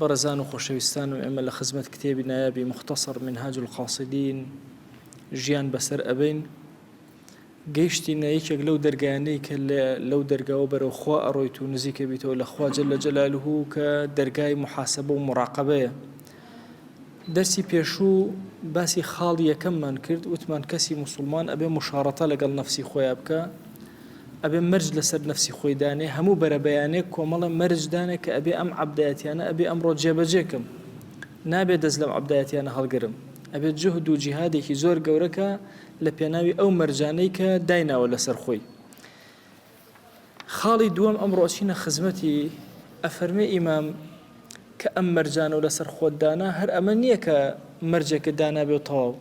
بەڕێزان و خۆشەویستانم ئێمە لە خزمەت کتێبی نایابی مختصر منهاج القاصدین ژیان بەسەر ئەبەین گەیشتینە یەکێک لەو دەرگایانەی کە لەو دەرگاوە بەرەو خوا ئەڕۆیت و نزیکە بیتەوە لە خواجە لە جەلالهوو کە دەرگای محاسبە و مراقبەیە دەرسی پێشوو باسی خاڵی یەکەممان کرد وتمان کەسی موسڵمان ئەبێ مشاڕەتە لەگەڵ نەفسی خۆیا بکە ئەبێ مەرج لەسەر نەفسی خۆی دانێ هەموو بەرەبەیانێک کۆمەڵە مەرج دانێ کە ئەبێ ئەم عبدایەتیانە ئەبێ ئەمڕۆ جێبەجێکم نابێت دەست لەم عبدایەتیانە هەڵگرم ئەبێت جهد و جیهادێکی زۆر گەورەکە لە پێناوی ئەو مەرجانەی کە دایناوە لەسەر خۆی خاڵی دووەم ئەمڕۆ ئەچینە خزمەتی، ئەفەرمێ ئیمام، کە ئەم مەرجانە و لەسەر خۆت دانا هەر ئەمە نییە کە مەرجێکت دانابێ و تەواو،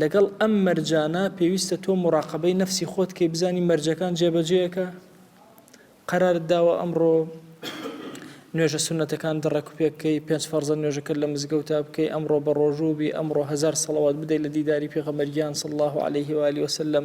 لەگەڵ ئەم مەرجانە پێویستە تۆ موراقەبەی نەفسی خۆت کەی بزانی مەرجەکان جێبەجێیەکە؟ قەرارت داوە ئەمڕۆ نوێژە سوننەتەکان دڕەکوپێک بکەی، پێنج فەرزە نوێژەکەت لە مزگەوتا بکەی، ئەمڕۆ بەڕۆژوو بی، ئەمڕۆ هەزار سەڵەوات بدەی لە دیداری پێغەمبەر گیان صلی اللە علیه و آله وسلم،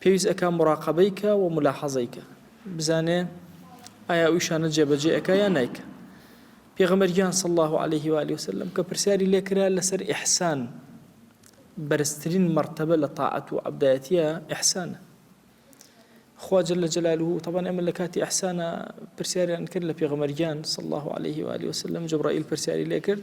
پێویست ئەکا مراقەبەی کا و ملاحەزەی کا بزانێ ئایا ئەو ئیشانە جێبەجێ ئەکا یا نایکا پێغەمبەر گیان صلی الله علیه و آله وسلم کە پرسیاری لێ کرا لەسەر ئیحسان بەرزترین مرتبە لە طاعەت و عبدایەتیە ئیحسانە خوا جل جلاله طبعا ئێمە لە کاتی ئەحسانە پرسیاریان کرد لە پێغەمەرگیان صلی الله عليه و آله وسلم جبرائیل پرسیاری لێ کرد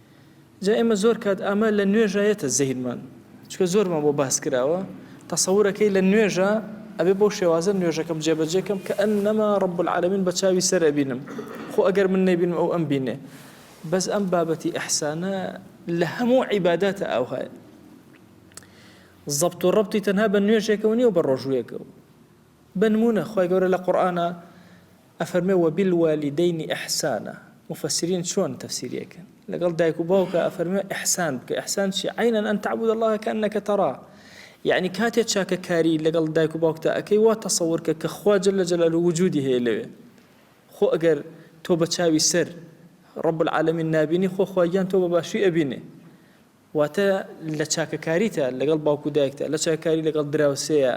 جا ئێمە زۆر کات ئامە لە نوێژا یەتە زەهینمان چکە زۆرمان بۆ باس کراوە تەسەورەکەی لە نوێژە ئەبێ بۆ شێوازە نوێژەکەم جێبەجێکەم کە ئەن نەما ڕب العالمین بە چاوی سەر ئەبینم خۆ ئەگەر من نەبینم ئەو ئەم بینێ بەس ئەم بابەتی ئەحسانە لە هەموو عیباداتە ئاوهایە زەبت و ڕبتی تەنها بە نوێژێکەوە نیە و بە ڕۆژوویەکەوە بنمونە خی گەورە لە قورآە ئەفەرمێ وبالوالدین احسانا مفسرین چۆن تەفسیری ئەکەن لەگەڵ دایک و باوکا ئەفەرمێ احسان بکە احسان چیە عینا ان تعبد الله کانک ترا یەعنی کاتێ چاکە کاری لەگەڵ دایک و باوکتا ئەکەی وا تەسەور کە کە خوا جل جلالو وجودی هەیە لەوێ خۆ ئەگەر تۆ بە چاوی سەر رب العالمین نابینی خۆ خواگیان تۆ بە باشی ئەبینێ واتە لە چاکەکاریتە لەگەڵ باوک و دایکتا لە چاکەکاری لەگەڵ دراوسێیا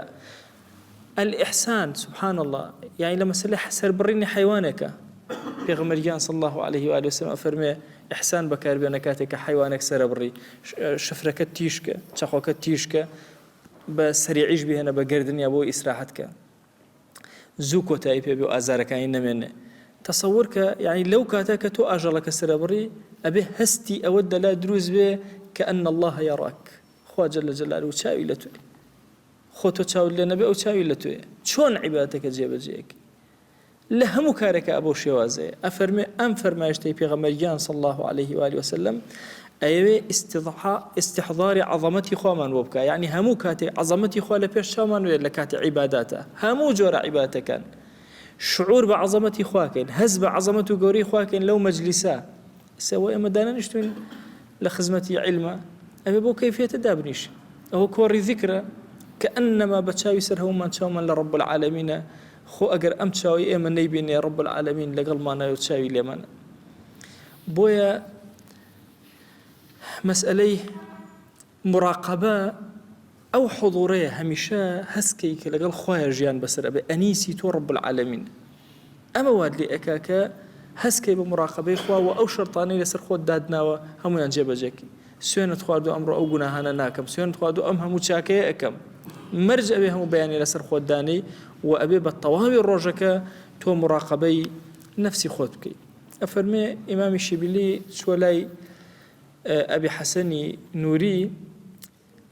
الاحسان سبحان اللە یانی لە مەسەلە سەربڕینی حەیوانێکە پێغەمبەر گیان صلی اللە علیه و آله وسلم ئەفەرمێ احسان بەکاربێنە کاتێک کە حەیوانێک سەرەبڕی شفرەکە تیشکە چەقۆکە تیشکە بە سەریعیش بهێنە بە گردنیا بۆ ئیسراحەتکە زوو کۆتایی پێ بێ و ئازارەکانی نەمێنێ. تەسەور کە یەعنی لەو کاتە کە تۆ ئاژەڵەکە سرەبڕی ئەبێ هەستی ئەوەت لە لا دروست بێ کە ان اللە یراک خوا جل جلالە چاوی لە تۆیە. خۆ تۆ چاوت لێ نەبێ ئەو چاوی لە تۆیە. چۆن عیبادەتەکە جێ بە جێ ئەکەی؟ لە هەموو کارێکا بەو شێوازەیە ئەفەرموێ، ئەم فەرمایشتەی پێغەمبەر گیان صلی اللە علیه و آله و سلم ئەیەوێ ئیستحضاری عەزەمەتی خوامان بۆ بکا یەعنی هەموو کاتێک عەزەمەتی خوا لە پێش چاومان بێت لە کاتی عیباداتا هەموو جۆرە عیبادەکان شعور بە عەزەمەتی خوا کەین هەست بە عەزەمەت و گەورەی خوا کەین لەو مەجلیسە سەوە ئێمە دانەنیشتوین لە خزمەتی علمە ئەوێ بۆ کەیفێتە دابنیش ئەوە کۆڕی ذکرە کە ئەنەما بە چاوی سەر هەومان چاومان لە ڕب العالمینە خۆ ئەگەر ئەم چاوەی ئێمە نەیبینێ رب العالمین لەگەڵمانایە و چاوی لێمانە بۆیە مەسئلەی مراقبە ئەو حضورەیە هەمیشە هەستکەی کە لەگەڵ خۆیان ژیان بەسەر ئەبێ ئەنیسی تۆ رب العالمین ئەمە واد لێ ئەکا کە هەستکەی بە مراقبەی خوا و ئەو شەرتانەی لەسەر خۆت دادناوە هەمویان جێبەجێکی سوێنت خواردوە ئەمڕۆ ئەو گوناهانە ناکەم سوێنت خواردوە ئەم هەموو چاکەیە ئەکەم مەرج ئەوێ هەموو بەیانی لەسەر خۆت دانەی و ئەبێ بە تەواوی ڕۆژەکە تۆ مراقبەی نفسی خۆت بکەیت ئەفەرمێ ئیمامی شیبلی چوە لای ئەبی حەسەنی نووری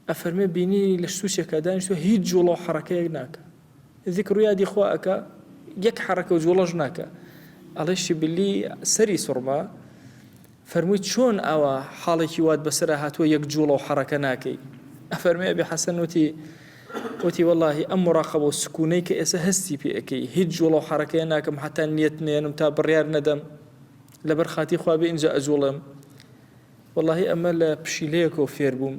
ئەفەرمێ بینی لە سوچێکە دانیشتوە هیچ جوڵە و حڕەکەیەک ناکە ذکرو یادی خوا ئەکا یەک حەڕەکەو جوڵەش ناکا ئەڵێ شبلی سەری سوڕما فەرمووی چۆن ئاوا حاڵێکی وات بەسەرا هاتووە یەک جوڵەو حەڕەکە ناکەی ئەفەرمێ ئەبی حەسەن وتی وتی واللهی ئەم مراقەبە و سکونەی کە ئێستا هەستی پێ ئەکەی هیچ جوڵە و حەڕەکەیە ناکەم حتا نیەت نێنم تا بڕیار نەدەم لەبەر خاتی خوا بێ ئینجا ئەجوڵێم واللهی ئەمە لە پشیلەیەکەوە فێر بووم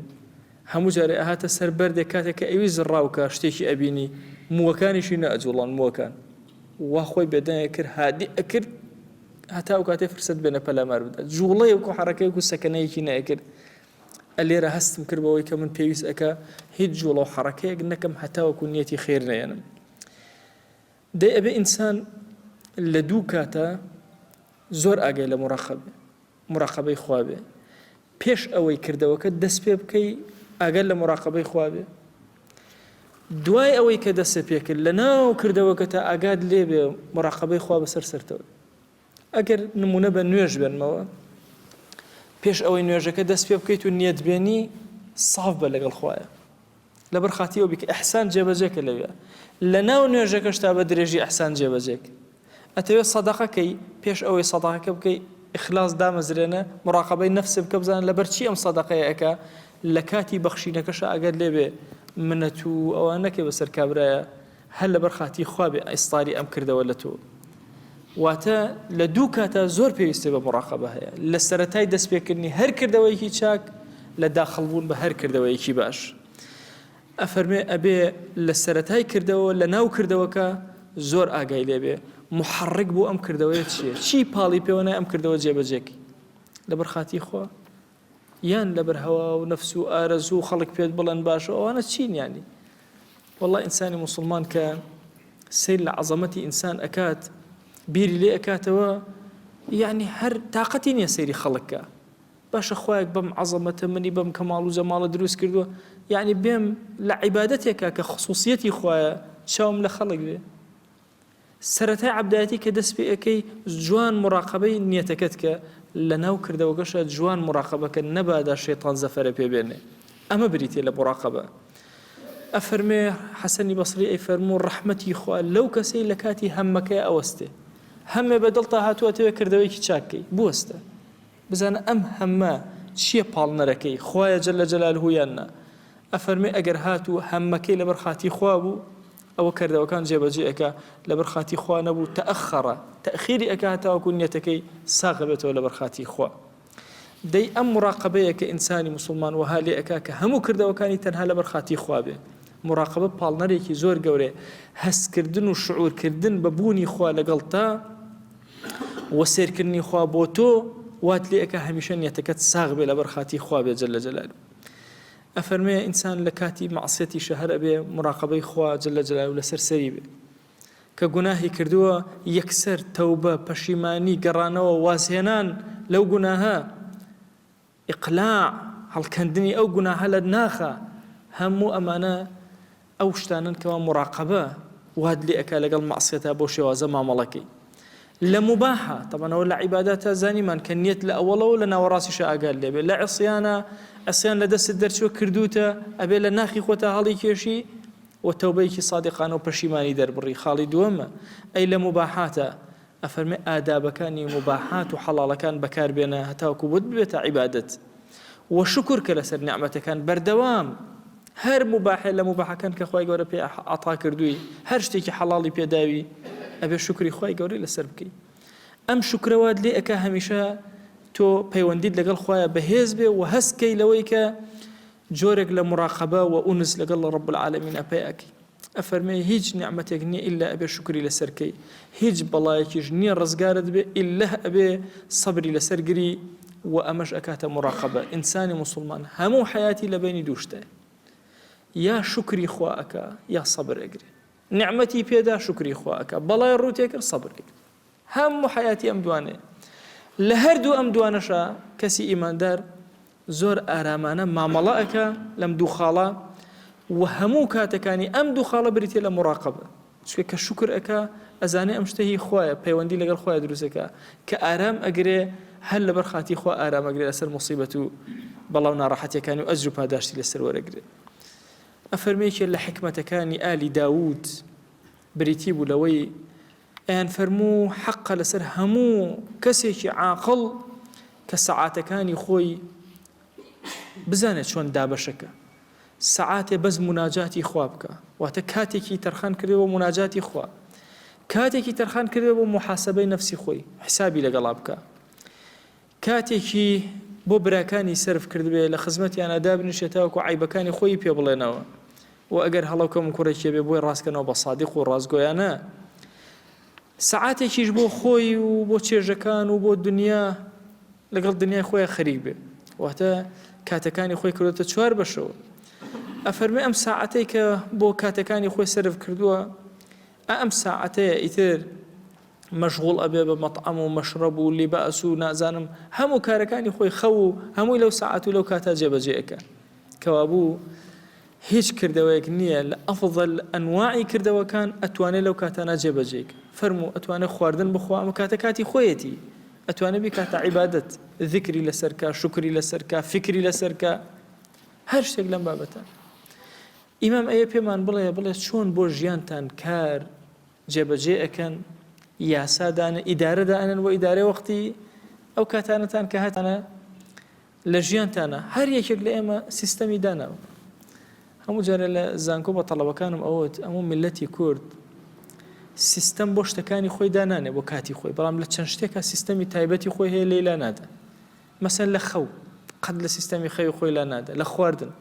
هەموو جارێ ئەهاتە سەر بەردێک کاتێک کە ئەویست زڕاو کا شتێکی ئەبینی مووەکانیشی نەئەجوڵان مووەکان وا خۆی بێدەنگە کرد هادی ئەکرد هەتا ئەو کاتێ فرسەت بێنە پەلامار بدات جوڵەیەک و حەڕەکەیەک و سەکەنەیەکی نەئەکرد ئەلێرە هەستم کرد بەوەی کە من پێویست ئەکا هیچ جوڵە و حەڕەکەیەک نەکەم هەتاوەکو نیەتی خێر نەیەنم دەی ئەبێ ئینسان لە دوو کاتە زۆر ئاگای لە مڕەقەبێ مڕەقەبەی خواابێ پێش ئەوەی کردەوەکە دەست پێ بکەی ئاگەر لە مڕاقبەی خواابێ دوای ئەوەی کە دەسە پێکرد لە ناو کردەوەکە تا ئاگاد لێبێ مڕاقبەی خوا بەسەر سەرتەوە ئەگەر نموونە بە نوێژ بێنمەوە، پێش ئەوەی نوێژەکە دەست پێ بکەیت و نیەت بێنی ساف بە لەگەڵ خوایە لەبەر خاتی ئەو بیکە ئەحسان جێبەجێکە لەوێ لە ناو نوێژەکەش تا بە درێژی ئەحسان جێبەجێک ئەتەوێت سەدەقەکەی پێش ئەوەی سەداقەکە بکەی ئخلاص دامەزرێنە مراقبەی نفس بکە بزان لەبەر چی ئەم سەدەقەیەکە لە کاتی بەخشینەکەش ئەگەر لێبێ منەت و ئەوە نەکەی بەسەر کابرایە هەر لەبەر خاتری خوا بێ ئیستاری ئەم کردەوە لە تۆ. واتە لە دوو کاتا زۆر پێویستی بە موڕاقەبە هەیە، لە سەرەتای دەست پێکردنی هەر کردەوەیەکی چاک، لە داخڵ بوون بە هەر کردەوەیەکی باش. ئەفەرمێ ئەبێ لە سەرەتای کردەوە لە ناو کردەوەکە زۆر ئاگای لێ بێ موحەڕک بۆ ئەم کردەوەیە چییە؟ چی پاڵی پێوە نای ئەم کردەوە جێبەجێ کەی؟ لەبەر خاتری خوا. یان لەبەر هەوا و نەفس و ئارەزوو و خەڵک پێت بڵێن باشە ئەوانە چین یانی والله ئینسانی مسلمان کە سیر لە عەزەمەتی ئینسان ئەکات بیری لێ ئەکاتەوە یعنی هەر تااقەتی نییە سەیری خەڵکە باشە خۆیەک بەم عەزەمەتە منی بەم کە ماڵ و جەماڵە دروست کردووە یعنی بێم لە عیباەتێکە کە خصوصیەتی خویە چاوم لە خەڵک بێ سەرەتای عەبدایەتی کە دەست پێ ئەکەی جوان موراقەبەی نیەتەکەت کە لەناو کردەوەکەشا جوان موراقەبە کە نەبادا شەیتان زەفەرە پێ بێنێ ئەمە بریتیە لە موراقەبە ئەفەرمێ حەسەنی بەسری ئەی فەرموو ڕەحمەتی خوا لەو کەسەی لە کاتی هەمەکەی ئەوەستێ هەمێ بە دڵتا هاتووە تەوێ کردەوەیکی چاک کەی بوەستە بزانە ئەم هەمە چییە پاڵنەرەکەی خوایە جەلە جەلالهو یان نا ئەفەرمێ ئەگەر هاتوو هەمەکەی لەبەر خاتی خوا بوو ئەوە کردەوەکان جێبەجێ ئەکا لەبەر خاتری خوا نەبوو تەئەخەڕە تەئخیری ئەکا هەتاوەکو نیەتەکەی ساغ بێتەوە لەبەر خاتری خوا دەی ئەم مڕاقەبەیە کە ئینسانی موسڵمان وەها لێ ئەکا کە هەموو کردەوەکانی تەنها لەبەر خاتری خوا بێ مڕاقەبە پاڵنەرێکی زۆر گەورێ هەستکردن و شعورکردن بە بوونی خوا لەگەڵ تا وە سێرکردنی خوا بۆ تۆ وات لێ ئەکا هەمیشە نیەتەکەت ساغ بێ لەبەر خاتری خوا بێ جل لە جەلال ئەفەرموێ ئینسان لە کاتی مەعسیەتیشا هەر ئەبێ موراقەبەی خوا جل جلالە لەسەر سەری بێ کە گوناهی کردووە یەکسەر تەوبە پەشیمانی گەڕانەوە وازهێنان لەو گوناهە ئیقلاع هەڵکەندنی ئەو گوناهە لە ناخە هەموو ئەمانە ئەو شتانەن کەوا موراقەبە وات لێ ئەکا لەگەڵ مەعسیەتا بەو شێوازە مامەڵە کەی لە موباحە تەبەن ئەوە لە عیباداتا زانیمان کە نیەت لە ئەوەڵەوە لە ناوەڕاستیشە ئاگات لێبێ لە عسیانە ئەسیان لە دەستت دەرچوە کردوتە ئەبێ لە ناخی خۆتا هەڵی کێشی و تەوبەیەکی سادقانە و پەشیمانی دەربڕی خاڵی دووەمە ئەی لە موباحاتە ئەفەرمێ ئادابەکانی موباحات و حەڵاڵەکان بەکار بێنە هەتاوەکو بۆت ببێتە عیبادەت وە شوکر کە لەسەر نیعمەتەکان بەردەوام هەر موباحێ لە موباحەکان کە خوای گەورە پێ عەتا کردووی هەر شتێکی حەڵاڵی پێداوی ئەبێ شوکری خوای گەورەی لەسەر بکەی ئەم شوکرەوات لێ ئەکا هەمیشە تۆ پەیوەندیت لەگەڵ خوایە بەهێز بێ و هەستکەی لەوەی کە جۆرێک لە مراقەبە وە ئونس لەگەڵ رب العالمینە پەیا ئەکەی ئەفەرمێ هیچ نیعمەتێک نیە ئیلا ئەبێ شوکری لەسەر کەی هیچ بەڵایەکیش نیە رزگارت بێ ئیللە ئەبێ سەبری لەسەر گری وە ئەمەش ئەکاتە مراقەبە ئینسانی موسوڵمان هەموو حەیاتی لە بەینی دوو شتە یا شوکری خوا ئەکا یا سەبر ئەگرێ نیعمەتی پێدا شوکری خوا ئەکا بەڵای رووتێکرد سەبر ئەگرێ هەموو حەیاتی ئەم دوانەیە. لە هەردوو ئەم دوانەشا کەسی ئیماندار زۆر ئارامانە مامەڵە ئەکا لەم دوو خاڵە و هەموو کاتەکانی ئەم دوو خاڵە بریتە لە مراقبە چکە کە شکر ئەکا ئەزانێ ئەم شتە هی خوایە پەیوەندی لەگەڵ خۆیان دروست ئەکا کە ئارام ئەگرێ هەر لەبەر خاتی خوا ئارام ئەگرێ لەسەر موسیبەت و بەڵا و ناڕەحەتیەکانی و ئەجر و پاداشتی لەسەر وەرەگرێ ئەفەرمێکێ لە حکمەتەکانی ئالی داوود بریتی بوو لەوەی ئەیان فەرموو حەقە لەسەر هەموو کەسێکی عاقڵ کە سەعاتەکانی خۆی بزانێت چۆن دابەشەکە سەعاتێ بەس مناجاتی خوا بکە واتە کاتێکی تەرخان کردێ بۆ مناجاتی خوا کاتێکی تەرخان کردێ بۆ محاسبەی نەفسی خۆی حسابی لەگەڵا بکە کاتێکی بۆ براکانی سەرف کردبێ لە خزمەتیانا دابنیشێ تاوەکو عەیبەکانی خۆیی پێ بڵێنەوە و ئەگەر هەڵە و کەموکوڕێکی هەبێ بۆی ڕاستکەنەوە بە سادق و ڕاستگۆیانە سەعاتێکیش بۆ خۆی و بۆ چێژەکان و بۆ دنیا لەگەڵ دنیای خۆیان خەریک بێ واتە کاتەکانی خۆی کردێتە چوار بەشەوە ئەفەرمی ئەم ساعەتەی کە بۆ کاتەکانی خۆی سرف کردووە ئەم ساعەتەیە ئیتر مەشغوڵ ئەبێ بە مەتعەم و مەشرەب و لیباس و نازانم هەموو کارەکانی خۆی خەو و هەمووی لەو سەعات و لەو کاتا جێبەجێ ئەکا کەوابوو هیچ کردەوەیەک نییە لە ئەفضل ئەنواعی کردەوەکان ئەتوانێت لەو کاتانە جێبەجێ کا فەرموو ئەتوانێت خواردن بخوا ئەمە کاتە کاتی خۆیەتی ئەتوانێت بیکاتە عیبادەت ذکری لەسەر کا شکری لەسەر کا فکری لەسەر کا هەر شتێک لەم بابەتە ئیمام ئەیە پێمان بڵێ بڵێ چۆن بۆ ژیانتان کار جێبەجێ ئەکەن یاسا دانێن ئیدارە دائەنێن بۆ ئیدارەی وەختی ئەو کاتانەتان کە هەتانە لە ژیانتانە هەر یەکێک لە ئێمە سیستەمی داناو هەموو جارە لە زانکۆ بە تەڵەبەکانم ئەوت ئەموو میلەتی کورد سیستەم بۆ شتەکانی خۆی دانانێ بۆ کاتی خۆی بەڵام لە چەند شتێکە سیستەمی تایبەتی خۆی هەیە لێلا نادە مەسەن لە خەو قەت لە سیستەمی خەوی خۆی لا نادە لە خواردن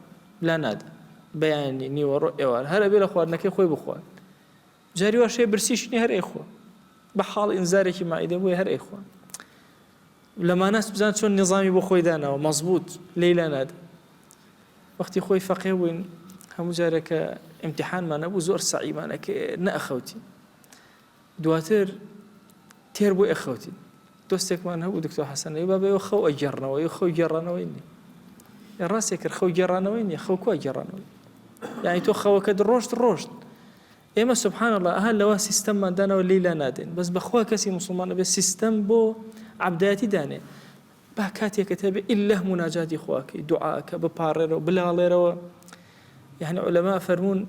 لا نادە بەیانی نیوەڕۆ ئێوار هەرە بێ لە خواردنەکەی خۆی بخوارد جاری واش هەیە برسیشی نیە هەر ئەیخۆن بە حاڵ ئینزارێکی مائیدە بۆیە هەر ئەیخۆن لە ماناس بزان چۆن نیزامی بۆ خۆی داناوە مەزبوط لەیلا ناد وەختی خۆی فەقێ بووین هەموو جارێکە ئیمتحانمان نەبوو زۆر سەعیمانەکە نەخەوتی دواتر تێر بۆ ئەخەوتین دۆستێکمان هەبوو دکتۆر حەسەن ئەی بابە ئێوە خەو ئەگێڕنەوە ئێوە خەو گێڕانەوەی نییە ئێ ڕاستێک کرد خەو گێڕانەوەی نییە خەو کوا گێڕانەوەی یعنی تۆ خەوەکەت ڕۆشت ڕۆشت ئێمە سبحان الله ئەها لەوە سیستەممان دانەوە لیلا نادێن بەس بەخوا کەسی مسلمان ئەبێ سیستەم بۆ عبدایەتی دانێ با کاتێکت هەبێ ئلله مناجاتی خواکەی دوعاکە بپارڕێرەوە بلاڵێرەوە یەعنی عولەما ئەفەرموون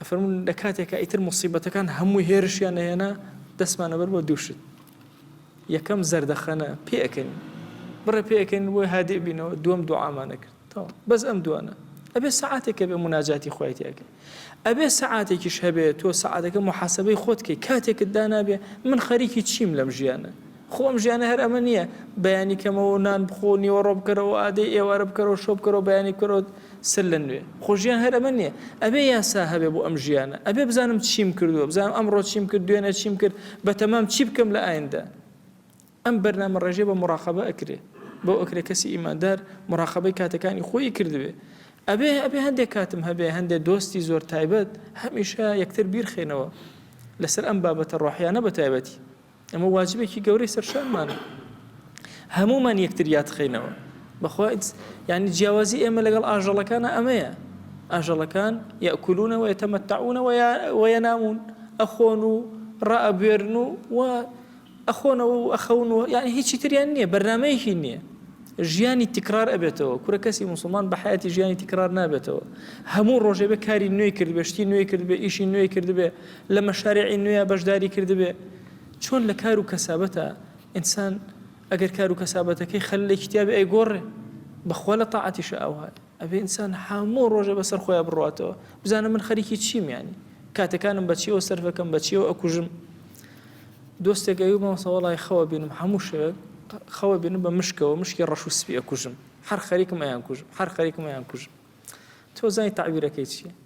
ئەفەرموون لە کاتێکا ئیتر موسیبەتەکان هەمووی هێرشیان ئەهێنا دەستمان ئەبەر بۆ دوو شت یەکەم زەردەخەنە پێ ئەکەین بڕێ پێ ئەکەین بۆی هادی بینەوە دووەم دوعامانە کرد تەواو بەس ئەم دوانە ئەبێ سعاتێکە بێ مناجاتی خۆی تێکە ئەبێ سعاتێکیش هەبێت تۆ سعاتەکە محاسبەی خۆتکەی کاتێکت دانابێ من خەریکی چیم لەم ژیانە خۆ ئەم ژیانە هەر ئەمە نییە، بەیانی کەمەوە نان بخۆ، نیوەڕۆ بکەرەوە، ئادەی ئێوارە بکەرەوە، شەو بکەرەوە، بەیانی بکەرەوە سەر لە نوێ. خۆ ژیان هەر ئەمە نییە. ئەبێ یاسا هەبێ بۆ ئەم ژیانە. ئەبێ بزانم چیم کردووە، بزانم ئەمڕۆ چیم کرد، دوێنێ چیم کرد، بەتەمام چی بکەم لە ئایندە. ئەم بەرنامەڕێژییە بە موراقەبە ئەکرێ. بەو ئەکرێ کەسی ئیماندار مراقەبەی کاتەکانی خۆیی کردبێ. ئەبێ ئەبێ هەندێ کاتم هەبێ، هەندێ دۆستی زۆر تایبەت، هەمیشە یەکتر بیرخەینەوە لەسەر ئەم بابەتە ڕۆحییانە بەتایبەتی. ئەمە واجبێکی گەورەی سەرشانمانە هەمومان یەکتر یادخەینەوە بەخوا یعنی جیاوازی ئێمە لەگەڵ ئاژەڵەکانە ئەمەیە ئاژەڵەکان یاکولونەوە یتەمەتەعونەوە وەیەنامون ئەخۆن و ڕائەبوێرن و و ئەخۆنەوە و ئەخەونەوە یان هیچی تریان نییە بەرنمەیەکی نییە ژیانی تکرار ئەبێتەوە کورە کەسی مسلمان بە حیاتی ژیانی تکرار نابێتەوە هەموو ڕۆژێ بە کاری نوێی کرد بەشتی نوێی کرد بە ئیشی نوێی کرد بێ لە مەشاریعی نوێیا بەشداری کردبێ، چۆن لە کار و کەسابەتا، ئینسان ئەگەر کار و کەسابەتەکەی خەللێکی تیابێ ئەیگۆڕێ، بە خوا لە تاعەتیشا ئەوهایە، ئەبێ ئینسان هەموو ڕۆژێ بە سەر خۆیا بڕواتەوە، بزانە من خەریکی چیم یانی، کاتەکانم بە چیەوە سەرف ئەکەم، بە چیەوە ئەکوژم. دۆستێک ئەوی مامۆستا وەڵای خەو ئەبینم هەموو شەوێک خەو ئەبینم بە مشکەوە مشکی ڕەش و سپی ئەکوژم، هەر خەریکم ئەیانکوژم، هەر خەریکم ئەیانکوژم. تۆ زانی تەعبیرەکەی چیە؟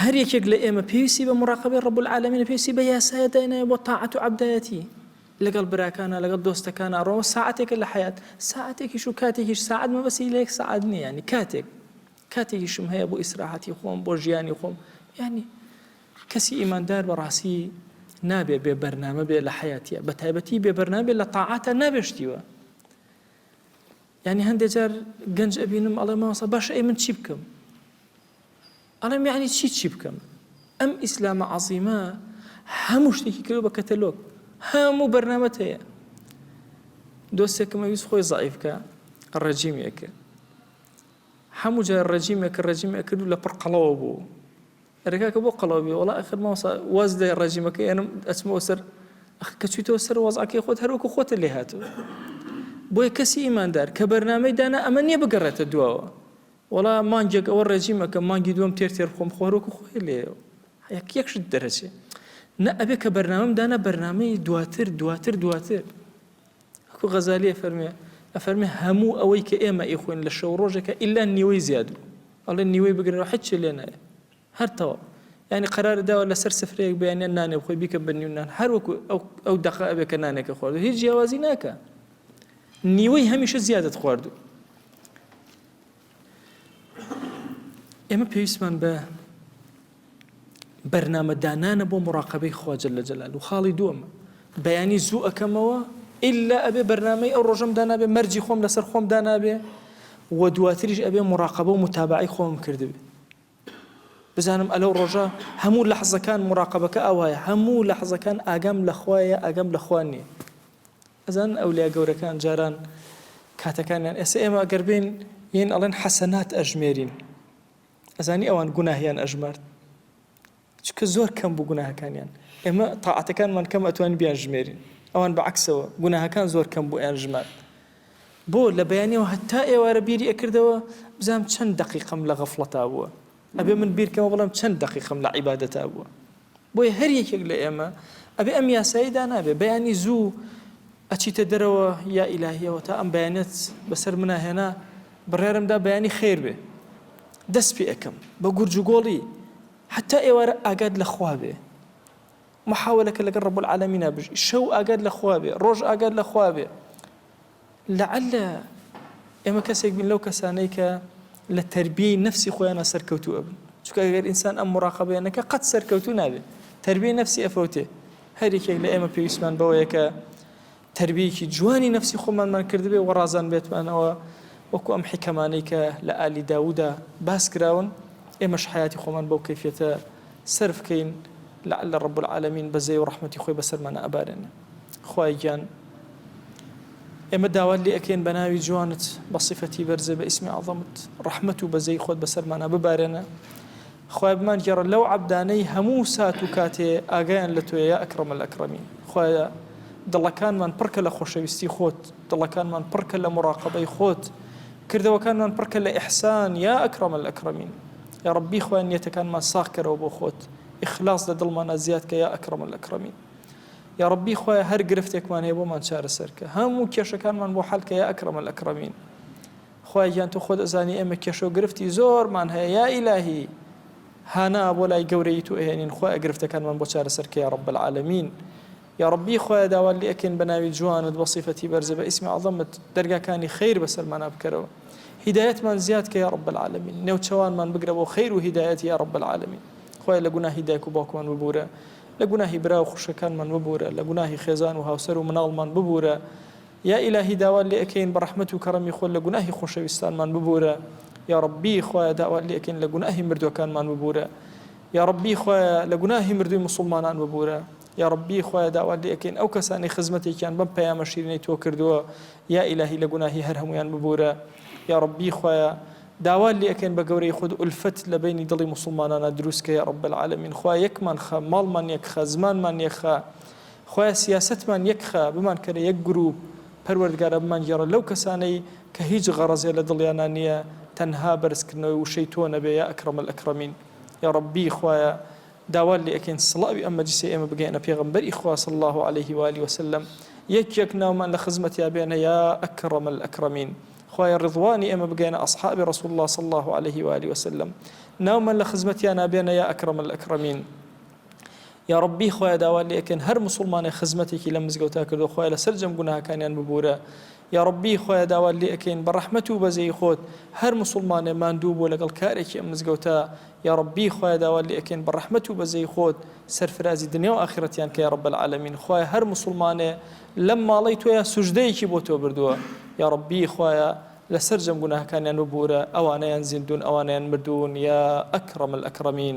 هەر یەکێک لە ئێمە پێویستی بە مراقەبەی ڕەب العالمینە پێویستی بە یاسایە دایناوی بۆ تاعەت و عەبدایەتی لەگەڵ براکانە لەگەڵ دۆستەکانە ڕەوە ساعەتێکە لە حیات ساعەتێکیش و کاتێکیش ساعەت مەبەسی لە یەک ساعەت نییە ینی کاتێک کاتێکیشم هەیە بۆ ئیسراحەتی خۆم بۆ ژیانی خۆم ینی کەسی ئیماندار بەڕاستی نابێ بێ بەرنامە بێ لە حیاتە بە تایبەتی بێ بەرنابێ لە تاعاتە نابێشتیوە ینی هەندێک جار گەنج ئەبینم ئەڵێ ماوەسە باش ئەی من چی بکەم ئەڵێم یەعنی چی چی بکەم ئەم ئیسلامە عەزیمە هەموو شتێکی کردو بە کەتەلۆک هەموو بەرنامەت هەیە دۆستێکمە ویست خۆی زعیفکە ڕەجیمێکە هەموو جای ڕەجیمێک ڕەجیمێک کردو لە پڕ قەڵەوە بوو ڕێکاکە بۆ قەڵەوەبی وڵا ئەخر ماوسا واز لە ڕەجیمەکە ئێنم ئەچمەوە سەر کە چیتەوە سەر وەزعەکەی خۆت هەروەکو خۆتە لێ هاتوو بۆیە کەسی ئیماندار کە بەرنمەی دانا ئەمە نییە بگەڕێتە دواوە وەڵا مانگێک ئەوە ڕێجیم ئەکەم مانگی دووەم تێر تێر خۆم خۆ هەروەکو خۆی لێ یەک یەک شت دەرەچێ نە ئەبێ کە بەرنامەم دانا بەرنمەی دواتر دواتر دواتر ئەکو غەزالیە فەرمێ ئەفەرمێ هەموو ئەوەی کە ئێمە ئیخۆین لە شەو ڕۆژێکە ئللا نیوەی زیادو ئەڵێ نیوەی بگرنەوە حچ لێ نایە هەر تەواو یانی قەرارت داوە لەسەر سفرەیەک بەیانیان نانێ بخۆی بیکە بە نیو نان هەر وەکو ئەو ئەو دەقە ئەبێ کە نانێکە خواردو هیچ جیاوازی ناکە نیوەی هەمیشە زیادت خواردو ئێمە پێویستمان بە بەرنمەدانانە بۆ مراقبەی خواجل لە جەلال و خاڵی دووەمە بەیانی زوو ئەەکەمەوە ئللا ئەبێ بەرنمەی ئەو ڕۆژم دانابێ مەرجی خۆم لەسەر خۆم دانابێ و دواتریش ئەبێ مراقبە و متابعی خۆم کردبێ بزانم ئەلەو ڕۆژە هەموو لەحزەکان موراقەبەکە ئاوایە هەموو لەحزەکان ئاگام لەخوایە ئاگام لەخوا نیە ئەزانن ئەولیا گەورەکان جاران کاتەکانیان ئێستا ئێمە گەر بێین یین ئەڵێن حەسەنات ئەژمێرین ئەزانی ئەوان گوناهیان ئەژمارد چونکە زۆر کەم بوو گوناهەکانیان ئێمە تاعەتەکانمان کەم ئەتوانین بیان ژمێرین ئەوان بە عەکسەوە گوناهەکان زۆر کەم بوو ئەیان ژمارد بۆ لە بەیانیەوە هەتا ئێوارە بیری ئەکردەوە بزام چەند دەقیقەم لە غەفڵەتا بووە ئەبێ من بیرکەمە بڵێم چەند دەقیقەم لە عیبادەتا بووە بۆیە هەر یەکێک لە ئێمە ئەبێ ئەم یاسایی دانابێ بەیانی زوو ئەچیتە دەرەوە یا ئیلاهیەوە تا ئەم بەیانەت بەسەر مناهێنا بڕێرمدا بەیانی خێر بێ دەست پێ ئەەکەم بە گورج و گۆڵی حەتا ئێوارە ئاگات لە خوا بێ محاولە کە لەگەڵ رب العالمینا بژی شەو ئاگات لە خوا بێ ڕۆژ ئاگات لە خوا بێ لعل ئێمە کەسێک بین لەو کەسانەی کە لە تربیەی نفسی خۆیانە سەرکەوتو ئەبن چکە گەر ئینسان ئەم مراقبێنەکە قەت سەرکەوتو نابێت تربیەی نفسی ئەفەوتێ هەریکێک لە ئێمە پێویستمان بەوەیەکە تەربیەیەکی جوانی نەفسی خۆمانمان کردبێ و ڕازان بێتمانەوە وەکو ئەم حیکەمانەی کە لە ئالی داوودا باس کراون ئێمەش حەیاتی خۆمان بەو کەیفیەتە سەرف کەین لەعل رب العالمین بەزەی و ڕەحمەتی خۆی بەسەرمانا ئەبارێنێ خوای گیان ئێمە داوات لێ ئەکەین بە ناوی جوانت بە صفەتی بەرزە بە ئیسمی عەظەمت ڕەحمەت و بەزەی خۆت بەسەرمانا ببارێنە خوایە بمان گێڕە لەو عەبدانەی هەموو سات و کاتێ ئاگایان لە تۆیە یا اکرم الاکرمین خوایە دڵەکانمان پڕکە لە خۆشەویستی خۆت دڵەکانمان پڕکە لە مراقەبەی خۆت کردەوەکانمان پڕکە لە احسان یا اکرم الاکرمین یا ربی خوایە نیەتەکانمان ساغ کەرەوە بۆ خۆت اخلاص لە دڵمانا زیاد کە یا اکرم الاکرمین یا ربی خوایە هەر گرفتێکمان هەیە بۆمان چارەسەر کە هەموو کێشەکانمان بۆ حەل کە یا اکرم الاکرمین خوایە گیان تۆ خۆت ئەزانی ئێمە کێشەو گرفتی زۆرمان هەیە یا ئیلاهی هانا بۆ لای گەورەیت و ئەهێنین خوایە گرفتەکانمان بۆ چارەسەر کە یا رب العالمین یا ربی خوایە داوات لێ ئەکەین بە ناوی جوانت بە صیفەتی بەرزە بە ئیسمی عەزەمت دەرگاکانی خیر بەسەرمانا بکەرەوە هیدایەتمان زیاد کە یا رب العالمین نێوچەوانمان بگرە بۆ خیر و هیدایەت یا رب العالمین خوایە لە گوناهی دایک و باوکمان ببورە لە گوناهی برا و خوشکەکانمان ببورە لە گوناهی خێزان و هاوسەر و مناڵمان ببورە یا ئیلاهی داوات لێ ئەکەین بە ڕەحمەت و کەڕەمی خۆت لە گوناهی خۆشەویستانمان ببوورە یاڕەبی خوایە داوات لێ ئەکەین لە گوناهی مردووەکانمان ببوورە یاڕەبی خوایە لە گوناهی مردووی موسوڵمانان ببوورە یاڕەبی خوایە داوات لێ ئەکەین ئەو کەسانەی خزمەتێکیان بەم پەیامە شیرینەی تۆ کردووە یا ئیلاهی لە گوناهی هەر هەموویان ببوورە یاڕەبی خوایە داوات لێ ئەکەین بە گەورەی خۆت ئولفەت لە بەینی دڵی موسوڵمانانا دروست کە یاڕەب العالمین خوایە یەکمان خە ماڵمان یەک خە زمانمان یەک خە خوایە سیاسەتمان یەک خە بمان کەرە یەک گروپ پەروەردگارا بمان گێڕە لەو کەسانەی کە هیچ غەڕەزێ لە دڵیانا نیە تەنها بەرز کردنەوەی وشەی تۆ نەبێ یا اکرم الاکرمین یاڕەبی خوایە داوات لێ ئەکەین سڵاوی ئەم مەجلیسەی ئێمە بگەیەنە پێغەمبەری خوا صلی اللە علیه و آله وسلم یەک یەک ناومان لە خزمەتیا بێنە یا اکرم الاکرمین خوایە ڕضوانی ئێمە بگەیەنە اصحابی رسول اللە صلی اللە علیه و آله وسلم ناومان لە خزمەتیانا بێنە یا اکرم الاکرمین یاڕەبی خوایە داوات لێکەن هەر موسڵمانێ خزمەتێکی لەم مزگەوتا کردو خوایە لە سەرجەم گوناهەکانیان ببورە یاڕەبی خوایە داوات لێکەین بە ڕەحمەت و بەزەی خۆت هەر موسڵمانێ ماندوو بۆ لەگەڵ کارێکی ئەم مزگەوتا یاڕەبی خوایە داوات لێکەین بە ڕەحمەت و بەزەی خۆت سەرفرازی دنیا و ئاخرەتیان کە یاڕەب العالمین خوایە هەر موسڵمانێ لەم ماڵی تۆیە سوژدەیەکی بۆ تۆ بردووە یاڕەبی خوایە لە سەرجەم گوناهەکانیان ببورە ئەوانەیان زیندون ئەوانیان مردوون یا ئەکڕەم الئەکڕەمین